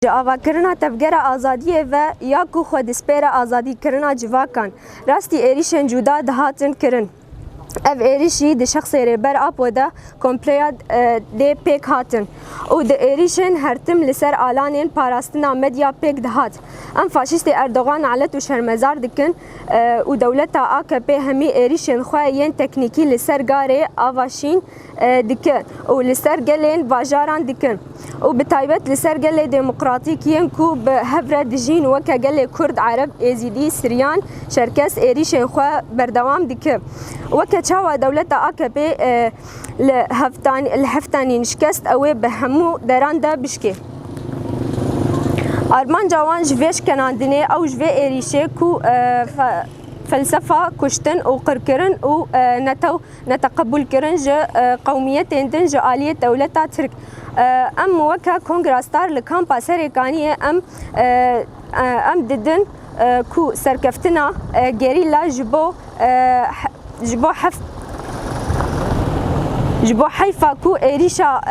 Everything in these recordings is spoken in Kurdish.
Ji avakirina tevgera azadiyê ve ya ku xwe dispêre azadîkirina civakan, rastî êrîşên cuda dihatin kirin. Ev êrîşî di şexsê Rêber Apo de kompleya dê pêk hatin û di êrîşên hertim li ser alanên parastina medya pêk dihat. Em faşîstê Erdogan nalet û şermezar dikin û dewleta AKP'ê hemî êrîşên xwe yên teknîkî li ser garê Avaşîn dikin û li ser gelên bajaran dikin û bi taybet li ser gelê demokratîk yên ku bi hev re dijîn weke gelê Kurd, Ereb, Êzîdî, Siryan, Çerkes êrîşên xwe berdewam dikin. Weke çawa dewleta akp li heftanîn şikest ew ê bi hemû deran de bişkê. Armanca wan ji vê şkenandinê ew ji vê êrîşê ku felsefa kuştin û qirkirin û netew neteqebûlkirin ji qewmiyetên din ji aliyê dewleta Tirk. Em weke Kongra Star li Kampa Serêkaniyê em em didin ku serkeftina gerîla ji bo ji bo heft ji bo heyfa ku êrîşa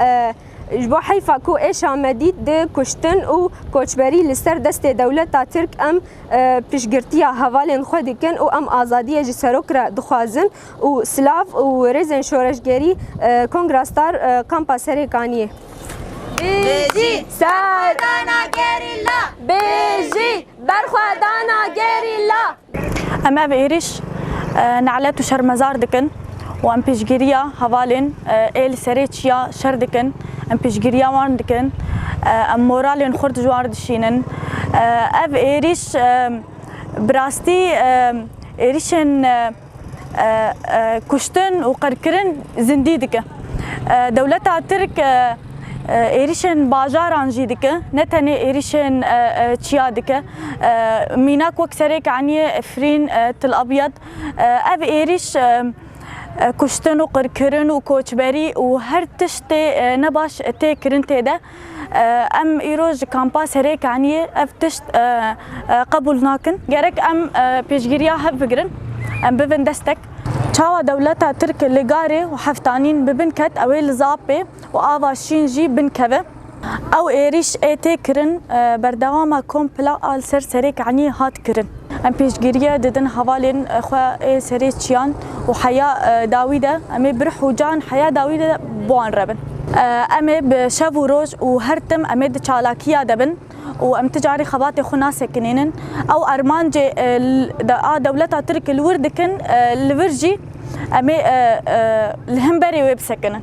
ji bo heyfa ku êşa medî di kuştin û koçberî li ser destê dewleta Tirk em piştgirtiya hevalên xwe dikin û em azadiye ji serok re dixwazin. û silav û rêzên şoreşgerî Kongra Star Kampa Serê Kaniyê. Bêjî serdana gerîla! Bêjî berxwedana gerîla! Em ev êrîş nelet û şermezar dikin û em piştgiriya hevalên ê li serê çiya şer dikin, em piştgiriya wan dikin, em moralên xwe di war dişînin. Ev êrîş bi rastî êrîşên Kuştin û qirkirin zindî dike. Dewleta Tirk êrîşên bajaran jî dike, ne tenê êrîşên çiya dike. Mînak wek serek anîye Efrîn, Til Abyad. Ev êrîş kuştin û qirkirin û koçberî û her tiştê ne baş tê kirin tê de. Em îro ji kampa Serê Kaniyê ev tişt qebûl nakin. Gerek em pêşgiriya hev bigirin, em bibin destek. Çawa dewleta Tirk li Garê û Heftanîn bi bin ket ew ê li Zapê û ava Şîn jî bin keve. Ew êrîş ê tê kirin berdewama kompla a li ser Serê Kaniyê hat kirin. Em pêşgirîye didin hevalên xwe ê serê çiyan û heya dawî de, em ê bi ruh û can heya dawî de bo wan re bin. Em ê bi şev û roj û her tim em ê di çalakîya de bin û em ti carî xebatê xwe nasekinînin. Ew armancê a dewleta Tirk li wir dikin, li vir jî em ê li himberê wê bisekinin.